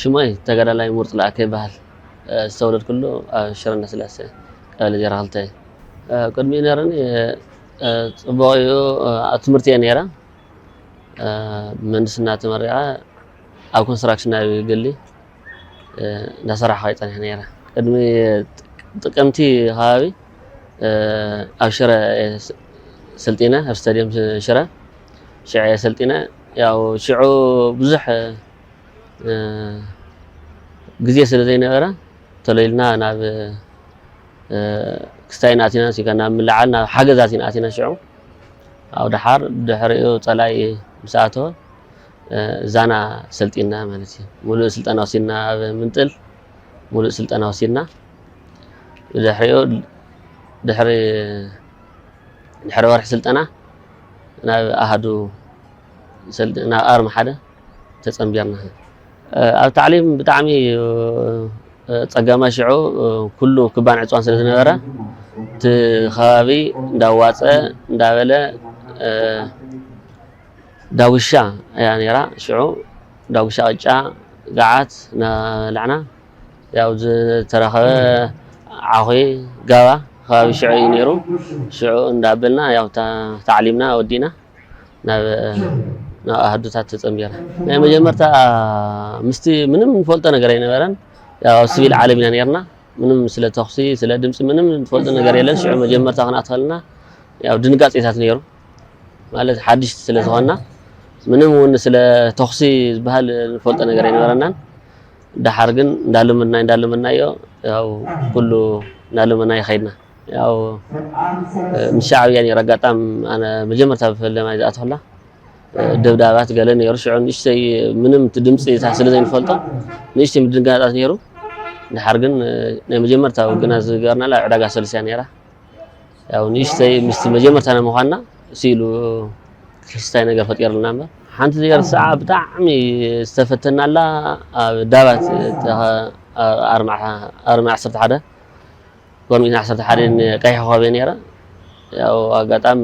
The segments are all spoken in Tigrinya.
ሽመይ ተጋዳላይ ሙርፅ ለኣከ ይበሃል። ዝተወለድኩሉ ኣብ ሽረ እንዳስላሰ ቀበሌ ዜሮ ክልተ እዩ። ቅድሚ ነይረኒ ፅቡቕ እዩ ኣብ ትምህርቲ እየ ነይረ ምህንድስና ተመሪዐ ኣብ ኮንስትራክሽን ናይ ግሊ እንዳሰራሕኩ እየ ፀኒሐ ነይረ። ቅድሚ ጥቅምቲ ከባቢ ኣብ ሽረ ስልጢነ ኣብ ስታዲየም ሽረ ሽዐ ሰልጢነ ያው ሽዑ ብዙሕ ግዜ ስለ ዘይነበረ ተሎ ኢልና ናብ ክስታይ ናቲና ሲጋ ናብ ምልዓል ናብ ሓገዛት ኢና ኣቲና ሽዑ ኣብ ደሓር ድሕሪኡ ፀላኢ ምስ ኣተወ ዛና ሰልጢና ማለት እዩ ሙሉእ ስልጠና ወሲድና ኣብ ምንጥል ሙሉእ ስልጠና ወሲድና ብድሕሪኡ ድሕሪ ድሕሪ ወርሒ ስልጠና ናብ ኣሃዱ ናብ ኣርሚ ሓደ ተፀምቢርና ኣብ ታዕሊም ብጣዕሚ ፀጋማ ሽዑ ኩሉ ክባን ዕፅዋን ስለ ዝነበረ እቲ ከባቢ እንዳዋፀ እንዳበለ ዳጉሻ እያ ነይራ ሽዑ ዳጉሻ ቅጫ ጋዓት እናበላዕና ያው ዝተረኸበ ዓኹ ጋባ ከባቢ ሽዑ እዩ ነይሩ ሽዑ እንዳበልና ያው ታዕሊምና ወዲእና ናብ ናብ ኣህዱታት ተፀምቢርና ናይ መጀመርታ ምስቲ ምንም ንፈልጦ ነገር ኣይነበረን ያው ኣብ ስቪል ዓለም ኢና ነርና ምንም ስለ ተኹሲ ስለ ድምፂ ምንም ንፈልጦ ነገር የለን ሽዑ መጀመርታ ክንኣትኸልና ያው ድንጋፂታት ነይሩ ማለት ሓድሽቲ ስለ ዝኾንና ምንም እውን ስለ ተኹሲ ዝበሃል ንፈልጦ ነገር ኣይነበረናን። ደሓር ግን እንዳለመድናዮ እንዳለመድናዮ ያው ኩሉ እንዳለመድናዮ ከይድና ያው ምስ ሻዕብያ ነይሩ ኣጋጣም ኣነ መጀመርታ ብፈለማይ ዝኣተኹላ ደብዳባት ገለ ነይሩ ሽዑ ንእሽተይ ምንም ድምፂ ስለ ዘይንፈልጦ ንእሽተይ ምድንጋጣት ነይሩ። ደሓር ግን ናይ መጀመርታ ውግና ዝገበርናላ ዕዳጋ ሰሉስ እያ ነይራ። ያው ንእሽተይ ምስቲ መጀመርታ ናይ ምዃንና ስኢሉ ክስታይ ነገር ፈጢሩልና እምበር ሓንቲ ነገር ሰዓ ብጣዕሚ ዝተፈተናላ ኣብ ዳባት ኣርሚ ዓሰርተ ሓደ ጎርሚት ዓሰርተ ሓደ ቀይሕ ኮኸብ እየ ነይረ ያው ኣጋጣሚ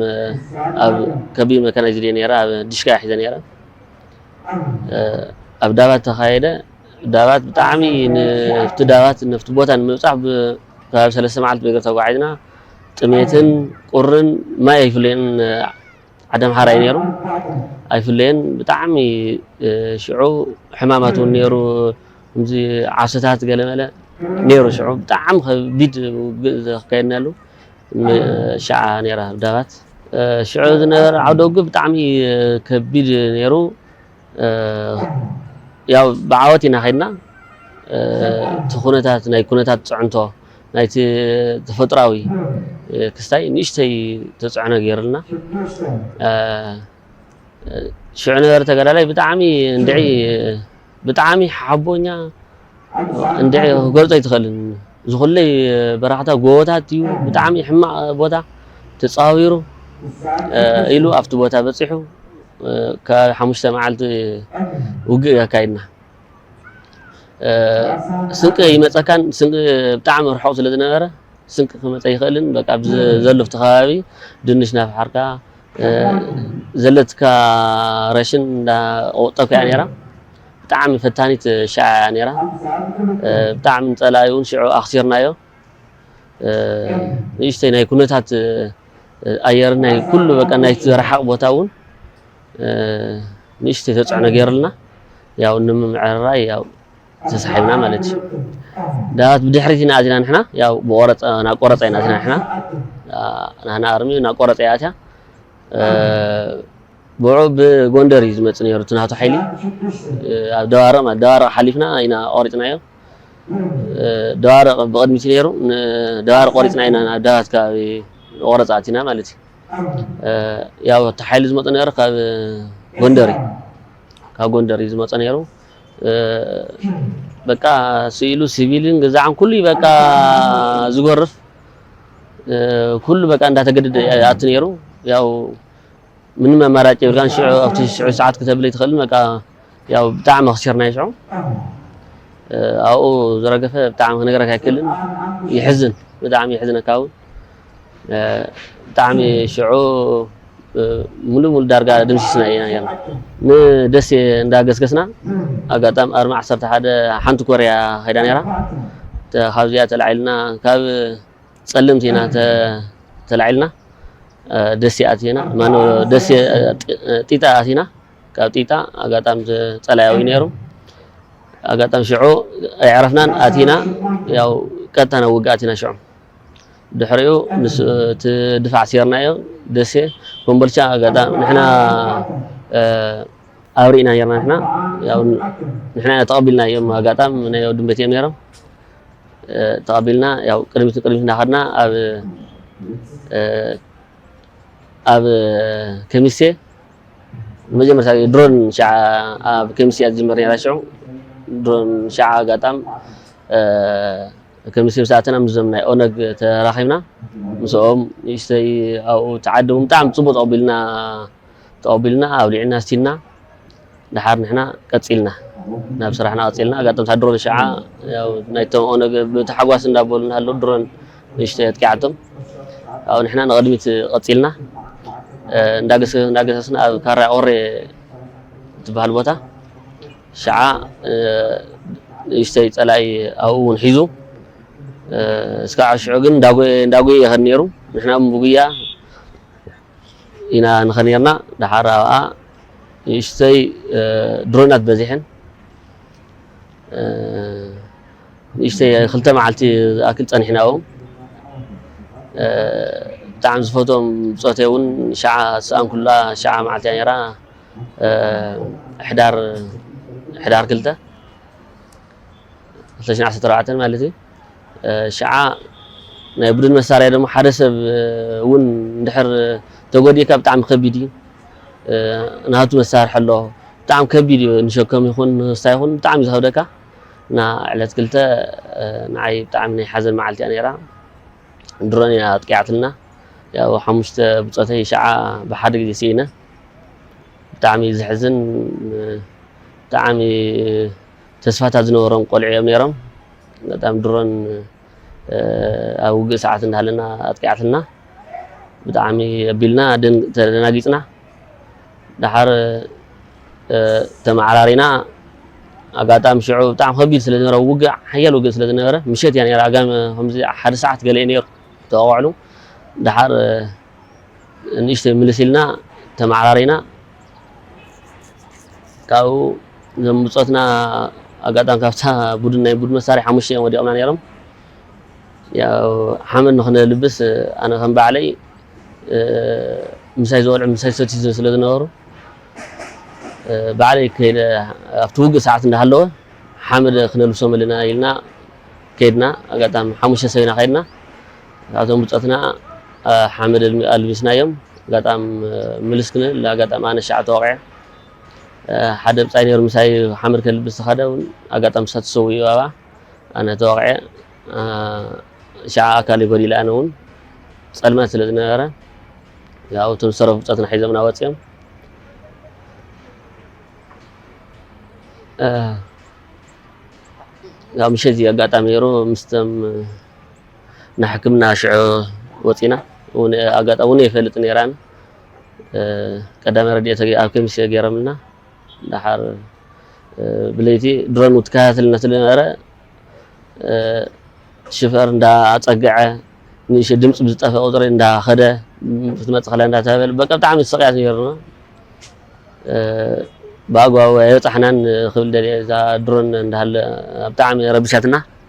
ኣብ ከቢድ መካናይዝድ እየ ነይረ ኣብ ዲሽካ እየ ሒዘ ነይረ ኣብ ዳባት ተኻየደ ዳባት ብጣዕሚ ንፍቲ ዳባት ንፍቲ ቦታ ንምብፃሕ ብከባቢ ሰለስተ መዓልቲ ብእግሪ ተጓዒዝና ጥሜትን ቁርን ማይ ኣይፍለየን ዓዲ ኣምሓራ እዩ ነይሩ ኣይፍለየን ብጣዕሚ ሽዑ ሕማማት እውን ነይሩ ከምዚ ዓሶታት ገለመለ ነይሩ ሽዑ ብጣዕሚ ከቢድ ውግእ ዘካየድናሉ ሸዓ ነይራ ዳባት ሽዑ ዝነበረ ዓውደ ውግእ ብጣዕሚ ከቢድ ነይሩ ያው ብዓወት ኢና ከድና እቲ ኩነታት ናይ ኩነታት ፅዕንቶ ናይቲ ተፈጥራዊ ክስታይ ንእሽተይ ተፅዕኖ ገይሩልና ሽዑ ነበረ ተጋዳላይ ብጣዕሚ እንድዒ ብጣዕሚ ሓቦኛ እንድዒ ክገልፆ ኣይትኽእልን ዝኹለይ በረክታ ጎቦታት እዩ ብጣዕሚ ሕማቅ ቦታ ተጻዊሩ ኢሉ ኣብቲ ቦታ በጺሑ ከባቢ ሓሙሽተ መዓልቲ ውግእ ኣካይድና ስንቂ ይመጸካን ስንቂ ብጣዕሚ ርሑቕ ስለ ዝነበረ ስንቂ ክመጸ ይኽእልን በቃ ኣብ ዘሎ ኣብቲ ከባቢ ድንሽ ናፍሓርካ ዘለትካ ረሽን እንዳ ቆጠብካ እያ ነይራ ብጣዕሚ ፈታኒት ሽዓ እያ ነይራ ብጣዕሚ ንፀላኢ እውን ሽዑ ኣኽሲርናዮ ንእሽተይ ናይ ኩነታት ኣየርን ናይ ኩሉ በቃ ናይቲ ዝረሓቕ ቦታ እውን ንእሽተይ ተፅዕኖ ገይሩልና ያው ንምምዕርራይ ያው ተሳሒብና ማለት እዩ ዳባት ብድሕሪት ኢና ኣዚና ንሕና ያው ብቆረፀ ናብ ቆረፀ ኢና ኣዚና ንሕና ናህና ኣርሚ ናብ ቆረፀ እያ ኣትያ ብዑ ብጎንደር እዩ ዝመፅእ ነይሩ እቲ ናቱ ሓይሊ ኣብ ደባርቕ ማለት ደባርቕ ሓሊፍና ኢና ቆሪፅናዮ ደባርቕ ብቕድሚት እዩ ነይሩ ደባርቕ ቆሪፅና ኢና ናብ ዳባት ከባቢ ቆረፃ ኣቲና ማለት እዩ ያው እቲ ሓይሊ ዝመፀ ነይሩ ካብ ጎንደር እዩ ካብ ጎንደር እዩ ዝመፀ ነይሩ በቃ ስኢሉ ሲቪልን ገዛዕን ኩሉ በቃ ዝጎርፍ ኩሉ በቃ እንዳተገደደ ይኣቱ ነይሩ። ያው ምንም ኣማራጭ የብልካን ሽዑ ኣብቲ ሽዑ ሰዓት ክተብል ኣይትኽእልን በቃ ያው ብጣዕሚ ኣኽሲርናዮ ሽዑ ኣብኡ ዝረገፈ ብጣዕሚ ክነግረካ ኣይክእልን ይሕዝን ብጣዕሚ የሕዝነካ እውን ብጣዕሚ ሽዑ ሙሉ ሙሉ ዳርጋ ደምሲስና ኢና ኔርና ንደሴ እንዳ ገስገስና ኣጋጣም ኣርማ ዓሰርተ ሓደ ሓንቲ ኮርያ ከይዳ ኔራ ካብዚኣ ተላዒልና ካብ ጸልምቲ ኢና ተላዒልና ደሴ ኣቲና ማነው ደሴ ጢጣ ኣቲና ካብ ጢጣ ኣጋጣሚ ጸላያዊ ነይሩ ኣጋጣሚ ሽዑ ኣይዕረፍናን ኣቲና ያው ቀጥታ ናብ ውግእ ኣቲና ሽዑ ድሕሪኡ ምስ እቲ ድፋዕ ሴርናዮ ደሴ ኮምቦልቻ ኣጋጣሚ ንሕና ኣብ ርኢና ኔርና ንሕና ያው ንሕና ተቐቢልናዮም ኣጋጣሚ ናይ ወድም ቤት እዮም ነይሮም ተቐቢልና ያው ቅድሚት ቅድሚት እናኸድና ኣብ ኣብ ከሚሴ መጀመርታ ድሮን ሸዓ ኣብ ከሚሴ እያ ዝጅምር ነይራ ሽዑ ድሮን ሸዓ ኣጋጣም ከምሲ ምስ ኣተና ምስዞም ናይ ኦነግ ተራኺብና ምስኦም ንእሽተይ ኣብኡ ተዓደቡ ብጣዕሚ ጽቡቅ ተቀቢልና ተቀቢልና ኣብሊዕና ኣስቲና ድሓር ንሕና ቀጺልና ናብ ስራሕና ቀጺልና ኣጋጠምታ ድሮን ሸዓ ያው ናይቶም ኦነግ ብታሕጓስ እንዳበሉ እናሃለዉ ድሮን ንእሽተይ ኣጥቂዓቶም ኣብ ንሕና ንቅድሚት ቀጺልና እንዳገሰስና ኣብ ካራ ቆሬ ትበሃል ቦታ ሽዓ ንእሽተይ ጸላኢ ኣብኡ እውን ሒዙ እስካዕ ሽዑ ግን እንዳጉየ ይኸድ ነይሩ ንሕና እውን ብጉያ ኢና ንኸ ነርና ድሓር ኣብኣ ንእሽተይ ድሮናት በዚሐን ንእሽተይ ክልተ መዓልቲ ዝኣክል ጸኒሕና ኣብኡ ብጣዕሚ ዝፈትዎም ብጾተይ እውን ሸዓ ዝሰኣንኩላ ሸዓ መዓልቲ እያ ነይራ ሕዳር ሕዳር ክልተ ክልተ ሽሕ ዓሰርተ ኣርባዕተ ማለት እዩ ሽዓ ናይ ቡድን መሳርያ ድማ ሓደ ሰብ እውን እንድሕር ተጎዲእካ ብጣዕሚ ከቢድ እዩ ናቱ መሳርሒ ኣሎ ብጣዕሚ ከቢድ እዩ ንሸከም ይኹን ንስታ ይኹን ብጣዕሚ ዝኸብደካ እና ዕለት ክልተ ንዓይ ብጣዕሚ ናይ ሓዘን መዓልቲ እያ ነይራ ድሮን እያ ኣጥቂዓትልና ያው ሓሙሽተ ብፆተይ ሸዓ ብሓደ ግዜ ስኢነ ብጣዕሚ እዩ ዘሕዝን ብጣዕሚ ተስፋታት ዝነበሮም ቆልዑ እዮም ነይሮም በጣም ድሮን ኣብ ውግእ ሰዓት እንዳሃለና ኣጥቂዓትና ብጣዕሚ ኣቢልና ተደናጊፅና ድሓር ተመዓራሪና ኣጋጣሚ ሽዑ ብጣዕሚ ከቢድ ስለ ዝነበረ ውግእ ሓያል ውግእ ስለ ዝነበረ ምሸት እያ ነራ ኣጋሚ ከምዚ ሓደ ሰዓት ገለ እዩ ነይሩ ተወቃዕሉ ድሓር ንእሽተይ ምልስ ኢልና ተመዓራሪና ካብኡ እዞም ብጾትና ኣጋጣሚ ካብታ ቡድን ናይ ቡድን መሳርሒ ሓሙሽተ እዮም ወዲቖምና ነይሮም ያው ሓመድ ንክነልብስ ኣነ ከም ባዕለይ ምሳይ ዝበልዑ ምሳይ ዝሰትዩ ስለ ዝነበሩ ባዕለይ ከይደ ኣብቲ ውግእ ሰዓት እንዳሃለወ ሓመድ ክነልብሶም ኣለና ኢልና ከይድና ኣጋጣሚ ሓሙሽተ ሰብ ኢና ከይድና ናቶም ብጾትና ሓመድ ኣልቢስናዮም ኣጋጣም ምልስ ክንብል ኣጋጣም ኣነ ሻዕ ተወቂዐ ሓደ ብጻይ ነይሩ ምሳይ ሓመድ ከልብስ ዝኸደ እውን ኣጋጣም ንሳ ትሰውኡ ኣባ ኣነ ተወቂዐ ሻዕ ኣካል ይጎዲለ ኣነ እውን ጸልማት ስለ ዝነበረ ያው እቶም ዝተረፉ ብጾትና ሒዞምና ወጺኦም ያው ምሸት ኣጋጣሚ ነይሩ ምስተም ንሕክምና ሽዑ ወጺና ኣጋጣሚ እውን የፈልጥ ነይራን ቀዳማይ ረድኤት ኣብ ከሚሴ ገይሮምልና ደሓር ብለይቲ ድሮን ትከታተልና ስለነበረ ሽፈር እንዳኣፀገዐ ንእሸ ድምፂ ብዝጠፈ ቁፅሪ እንዳኸደ ክትመፅእ ከላ እንዳተባበለ በቃ ብጣዕሚ ስቅያት ነይሩና ብኣግባቡ ኣይበፃሕናን ክብል ደልየ እዛ ድሮን እንዳሃለ ብጣዕሚ ረብሻትና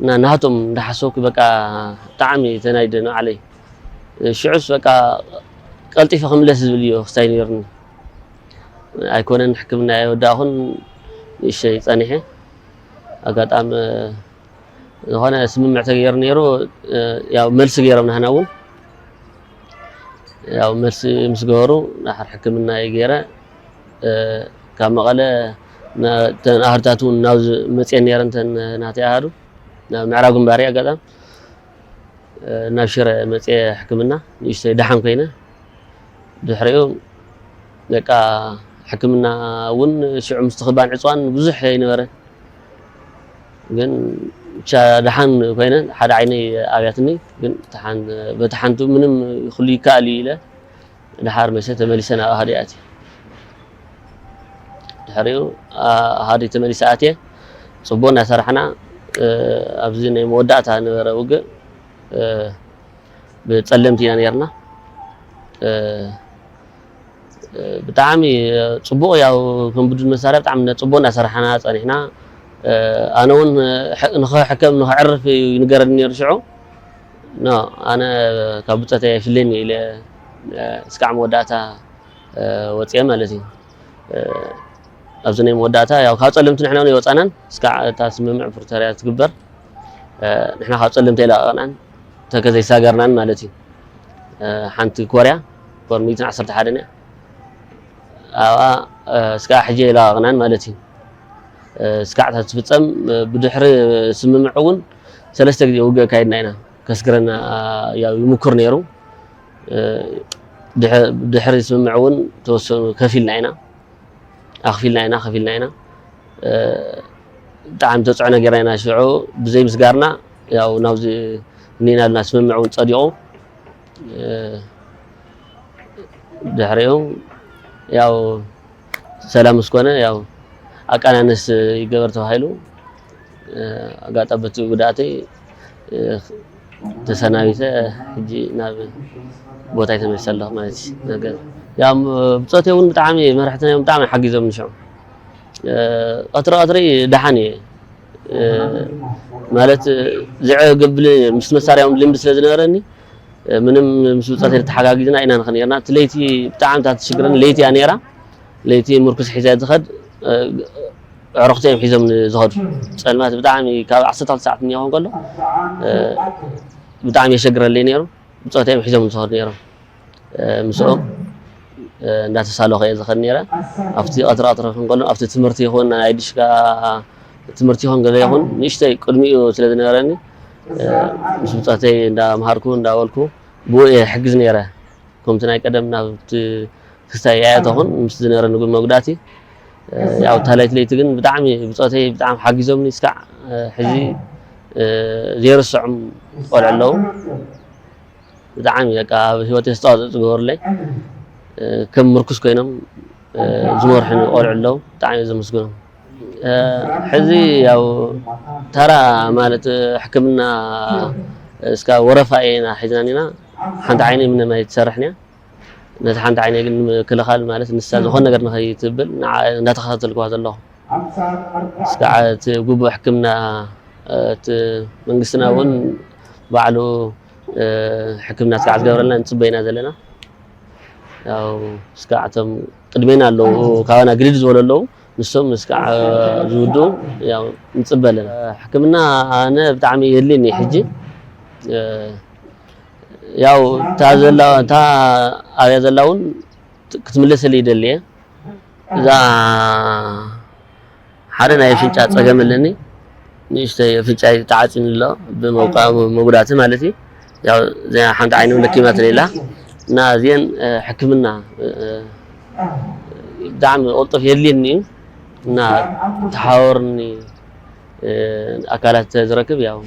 እና ናቶም እንዳሓሰብኩ በቃ ብጣዕሚ ተናዲደ ንባዕለይ ሽዑስ በቃ ቀልጢፈ ክምለስ ዝብል እዮ ክስታይ ነይሩኒ ኣይኮነን ሕክምና እየ ወዳእኹን ንእሸይ ፀኒሐ ኣጋጣሚ ዝኾነ ስምምዕ ተገይሩ ነይሩ ያው መልሲ ገይሮም ናህና እውን ያው መልሲ ምስ ገበሩ ሕክምና እየ ገይረ ካብ መቐለ እተን ኣሃዱታት እውን ናብ መፅኤን ነይረን እተን ናተይ ኣሃዱ ናብ ምዕራብ ግንባር እየ ኣጋጣሚ ናብ ሽረ መፅኤ ሕክምና ንእሽተይ ደሓን ኮይነ ድሕሪኡ በቃ ሕክምና እውን ሽዑ ምስ ትኽባን ዕፅዋን ብዙሕ ይነበረ ግን ብቻ ደሓን ኮይነ ሓደ ዓይነይ ኣብያትኒ ግን በቲ ሓንቲ ምንም ኩሉ ይከኣል እዩ ኢለ ድሓር መሰ ተመሊሰ ናብ ኣሃዱ ኣትየ ድሕሪኡ ኣሃዱ ተመሊሰ ኣትየ ፅቡቅ እናሰራሕና ኣብዚ ናይ መወዳእታ ነበረ ውግእ ብፀለምቲ ኢና ነርና ብጣዕሚ ፅቡቅ ያው ከም ቡድን መሳርያ ብጣዕሚ ፅቡቅ እናሰራሕና ፀኒሕና ኣነ እውን ንክሕከም ንክዕርፍ ይንገረኒ ነይሩ ሽዑ ኖእ ኣነ ካብ ብጾተይ ኣይፍለይን ኢየ ኢለ እስካዕ መወዳእታ ወጺኤ ማለት ኢዩ ኣብዚ ናይ መወዳእታ ያው ካብ ጸለምቲ ንሕና ውን ኣይወጻናን እስካዕ እታ ስምምዕ ፕሪቶርያ ትግበር ንሕና ካብ ጸለምቲ ኣይለቐቕናን ተከ ዘይሳገርናን ማለት እዩ ሓንቲ ኮርያ ኮር 111 እያ ኣብኣ እስካዕ ሕጂ ኣይለቐቕናን ማለት እዩ እስካዕ እታ ትፍጸም ብድሕሪ ስምምዕ እውን ሰለስተ ግዜ ውግእ ኣካይድና ኢና። ከስግረና ያው ይምኩር ነይሩ። ድሕሪ ስምምዕ እውን ተወሰኑ ከፊልና ኢና ኣኽፊልና ኢና ከፊልና ኢና ብጣዕሚ ተፅዕኖ ጌርና ኢና ሽዑ ብዘይ ምስጋርና ያው ናብዚ እኒና ልና ስምምዕ እውን ፀዲቑ ድሕሪኡ ያው ሰላም ምስ ኮነ ያው ኣቃናንስ ይገበር ተባሂሉ ኣጋጣ በቲ ጉድኣተይ ተሰናቢተ ሕጂ ናብ ቦታይ ተመልሰ ኣለኹ ማለት እዩ ነገር ያው ብፆቴ እውን ብጣዕሚ መራሕትና እዮም ብጣዕሚ ሓጊዞም ንሽዑ ቀትሪ ቀትሪ ደሓን እየ ማለት ዝዕገብልኒ ምስ መሳርያኦም ልምዲ ስለ ዝነበረኒ ምንም ምስ ብጻተይ ተሓጋጊዝና ኢና ንኸድ ኔርና። እቲ ለይቲ ብጣዕሚ እታ ትሽግረኒ ለይቲ እያ ኔራ። ለይቲ ምርኩስ ሒዘ እየ ዝኸድ። ኣዕሩኽተይ እዮም ሒዞምኒ ዝኸዱ። ጸልማት ብጣዕሚ ካብ ዓሰርተ ክልተ ሰዓት እኒኦ ክኸውን ከሎ ብጣዕሚ የሸግረለይ ኔሩ። ብጾተይ እዮም ሒዞምኒ ዝኸዱ ኔሮም። ምስኦም እንዳተሳለኹ እየ ዝኸድ ኔረ። ኣብቲ ቀትሪ ቀትሪ ክኸውን ከሎ ኣብቲ ትምህርቲ ይኹን ናይ ድሽካ ትምህርቲ ይኹን ገለ ይኹን ንእሽተይ ቅድሚኡ ስለ ዝነበረኒ ምስ ብጾተይ እንዳምሃርኩ እንዳበልኩ ብኡ እየ ሕግዝ ነይረ ከምቲ ናይ ቀደም ናብቲ ክስታይ ኣያተኹን ምስ ዝነበረኒ ግን መጉዳእቲ ያው እታ ለይቲ ለይቲ ግን ብጣዕሚ ብጾተይ ብጣዕሚ ሓጊዞምኒ እስካዕ ሕዚ ዘይርስዖም ቆልዑ ኣለዉ ብጣዕሚ በቃ ኣብ ሂወተይ ኣስተዋፅኦ ዝገበሩለይ ከም ምርኩስ ኮይኖም ዝመርሑኒ ቆልዑ ኣለዉ ብጣዕሚ እየ ዘመስግኖም ሕዚ ያው ተራ ማለት ሕክምና እስካ ወረፋ ኢና ሒዝና ኒና ሓንቲ ዓይነይ ምንም ኣይትሰርሕን እያ ነቲ ሓንቲ ዓይነይ ግን ምክልኻል ማለት ንሳ ዝኾነ ነገር ንኸይትብል እንዳተኸታተልክዋ ዘለኹ እስካዓ እቲ ግቡእ ሕክምና እቲ መንግስትና እውን ባዕሉ ሕክምና እስካዓ ዝገብረልና ንፅበይ ኢና ዘለና ያው እስካዓ እቶም ቅድሜና ኣለዉ ካባና ግድድ ዝበሉ ኣለዉ ንሶም ምስ ክዓ ዝውድኡ ያው ንጽበ ኣለና። ሕክምና ኣነ ብጣዕሚ የድልየኒ እዩ ሕጂ ያው እታ ዘላ እታ ኣብያ ዘላ እውን ክትምለሰለይ ይደሊ እየ እዛ ሓደ ናይ ኣፍንጫ ፀገም ኣለኒ ንእሽተይ ኣፍንጫይ ተዓፂኑ ኣሎ ብመጉዳእቲ ማለት እዩ ያው እዚኣ ሓንቲ ዓይኖም ለኪማትኒ ኢላ እና እዚአን ሕክምና ብጣዕሚ ቅልጡፍ የድልየኒ እዩ እና ተሓዋወርኒ ኣካላት ዝረክብ ያው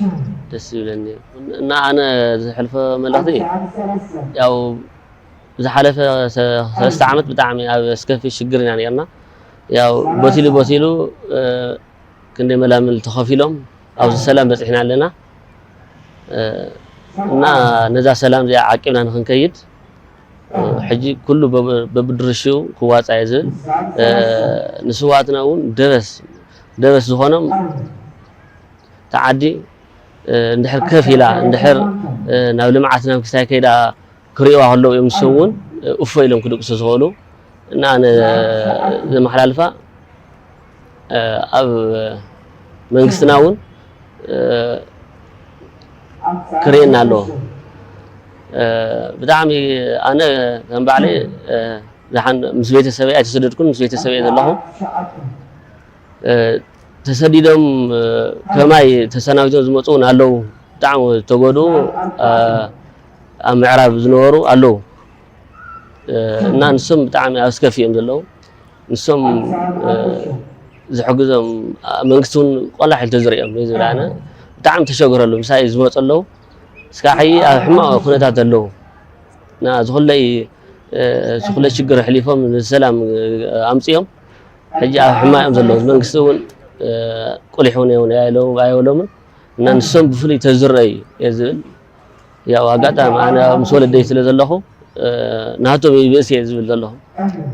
ደስ ይብለኒ እና ኣነ ዝሕልፎ መልእኽቲ ያው ዝሓለፈ ሰለስተ ዓመት ብጣዕሚ ኣብ ኣስከፊ ሽግር ኢና ነርና ያው ቦቲሉ ቦቲሉ ክንደይ መላምል ተኸፊሎም ኣብዚ ሰላም በጺሕና ኣለና እና ነዛ ሰላም እዚኣ ዓቂብና ንክንከይድ ሕጂ ኩሉ በብድርሽኡ ክዋፃ እየ ዝብል ንስዋትና እውን ደበስ ደበስ ዝኾኖም ተዓዲ እንድሕር ከፍ ኢላ እንድሕር ናብ ልምዓት ናብ ክስታይ ከይዳ ክሪእዋ ከለዉ እዮም ንሶም እውን እፎ ኢሎም ክድቅሱ ዝኽእሉ እና ኣነ ዘመሓላልፋ ኣብ መንግስትና እውን ክርኤና ኣለዎ ብጣዕሚ ኣነ ከም ባዕለይ ዝሓን ምስ ቤተሰበይ ኣይተሰደድኩን ምስ ቤተሰበይ ዘለኹ ተሰዲዶም ከማይ ተሰናቢቶም ዝመፁ እውን ኣለዉ ብጣዕሚ ዝተጎድኡ ኣብ ምዕራብ ዝነበሩ ኣለዉ እና ንሶም ብጣዕሚ ኣብ ስከፊ እዮም ዘለዉ ንሶም ዝሕግዞም መንግስቲ እውን ቆላሕ ኢሉ ተዝሪኦም እዩ ዝብል ኣነ ብጣዕሚ ተሸግረሉ ምሳይ ዝመፁ ኣለዉ እስካዕ ሕይ ኣብ ሕማቕ ኩነታት ኣለዉ እና ዝኹለይ ዝኹለ ሽግር ኣሕሊፎም ንሰላም ኣምፅኦም ሕጂ ኣብ ሕማቕ እዮም ዘለዉ መንግስቲ እውን ቁሊሕ እውን ኣይበሎምን እና ንሶም ብፍሉይ ተዝረዩ እየ ዝብል ያው ኣጋጣሚ ኣነ ምስ ወለደይ ስለ ዘለኹ ናቶም ይብእስ እየ ዝብል ዘለኹ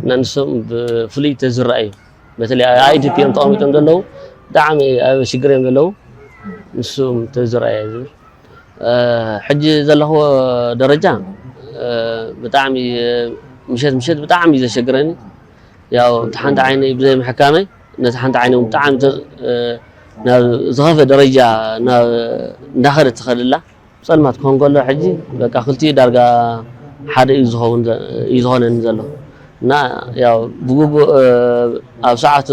እና ንሶም ብፍሉይ ተዝረኣዩ በተለይ ኣይዲፒ እዮም ተቐሚጦም ዘለዉ ብጣዕሚ ኣብ ሽግር እዮም ዘለዉ ንሱም ተዝረኣየ ዝብል ሕጂ ዘለኹ ደረጃ ብጣዕሚ ምሸት ምሸት ብጣዕሚ እዩ ዘሸግረኒ ያው ሓንቲ ዓይነይ ብዘይ ምሕካመይ ነታ ሓንቲ ዓይነ እውን ብጣዕሚ ናብ ዝኸፈ ደረጃ እንዳኸደት ትኸደላ ፀልማት ክኾን ከሎ ሕጂ በቃ ክልቲኡ ዳርጋ ሓደ እዩ ዝኸውን እዩ ዝኾነኒ ዘሎ እና ያው ብግቡእ ኣብ ሰዓቱ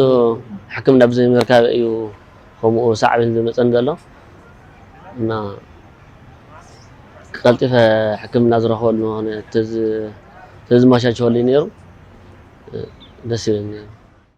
ሕክምና ብዘይምርካብ እዩ ከምኡ ሳዕቤን ዝመፀኒ ዘሎ እና ቀልጢፈ ሕክምና ዝረኽበሉ ሆነ ተዝመቻቸወልይ ነይሩ ደስ ይብል ነይሩ